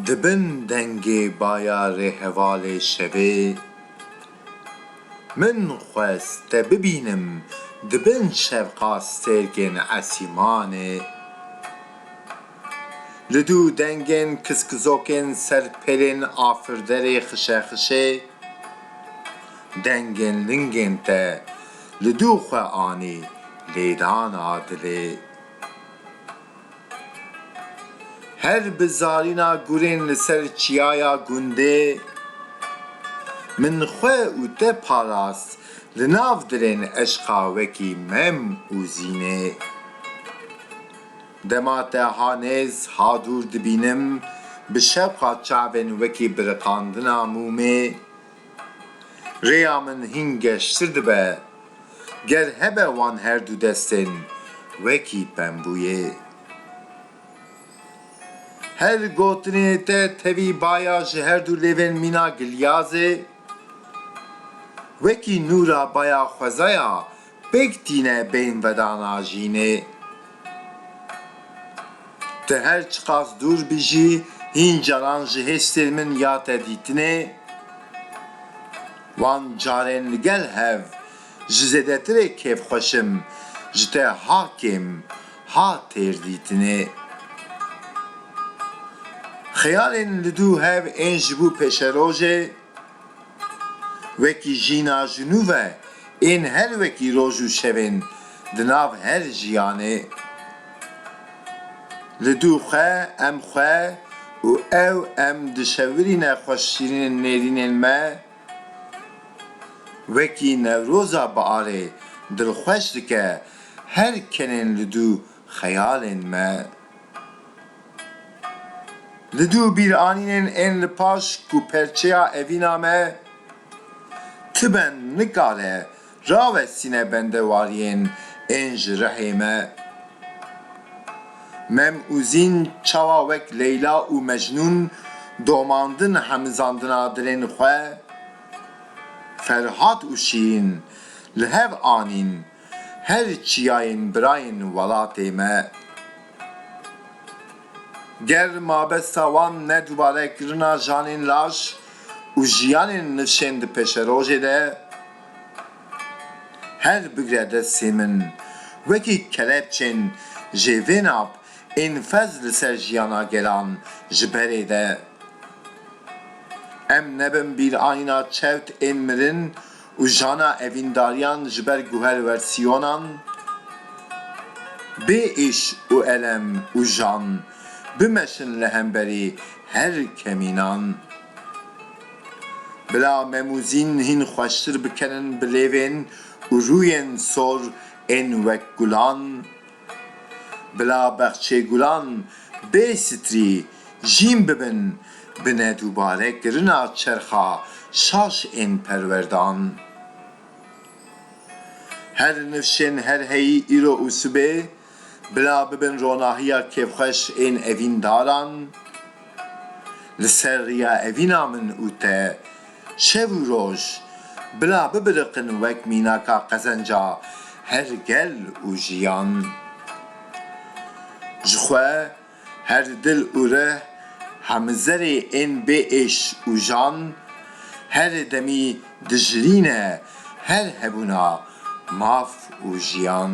Di bin dengê bayarê hevalê şevê Min xwest te bibînim di bin şevqastêrkên esîmanê Li du dengên kiskizokên ser pêlên afirderê xişexişê dengên lingên te li du xwe anî lêdana dilê. Her bi zarîna gurên li ser çiyaya gundê min xwe û te parast li nav dilên eşqa wekî mem û zînê. Dema te ha nêz ha dûr dibînim, bi şevqa çavên wekî biriqandina mûmê, rêya min hîn geştir dibe, ger hebe wan her du destên wekî pembûyê. Her gotinê te tevî baya ji her du lêvên mîna gilyazê, wekî nûra baya xwezaya Pêk tîne bên vedana jînê. Tu her çiqas dûr bijî, hîn caran ji hêstên min ya te dîtinê. Wan carên li gel hev, ji zêdetirê kêfxweş im, ji te ha kêm, ha têr dîtinê. Xeyalên li dû hev ên ji bo pêşerojê. Wekî jîna jinûve ên her wekî roj û şevên di nav her jiyanê li dû xwe em xwe û ew em dişewirîne xweşîrînên nêrînên me wekî newroza biarê dilxweş dike her kenên li dû xeyalên me. Li du bîranînên ên li paş ku perçeya evîna me ti ben nikare rawestîne bendewariyên ên ji rihê me. Mem û Zîn çawa wek Leyla û Mecnûn domandin hemizandina dilên xwe, Ferhat û Şîrîn li hev anîn, Her çiyayên birayên welatê me ger mabesta wan ne dubare kirina janên laş û jiyanên nifşên di pêşerojê de her bigre destê min wekî kelepçên jêvênav ên fez li ser jiyana gelan ji berê de em nebin bîrayîna çewt ên mirin Û jana evîndariyan ji ber guher wersiyonan bê êş û elem û jan bimeşin li hemberî her kemînan. Bila memûzîn hîn xweştir bikenin bi lêvên û rûyên sor ên wek gulan. Bila bexçê gulan bê sitrî jîn bibin bi nedûbare kirina çerxa şaş ên perwerdan. Her nifşên her heyî îro û sibê bila bibin ronahiya kêfxweş ên evîndaran. Li ser riya evîna min û te şev û roj bila bibiriqin wek mînaka qezenca her gel û jiyan. Ji xwe her dil û rih hemizerê ên bê êş û jan herê demî dijilîn e her hebûna maf û jiyan.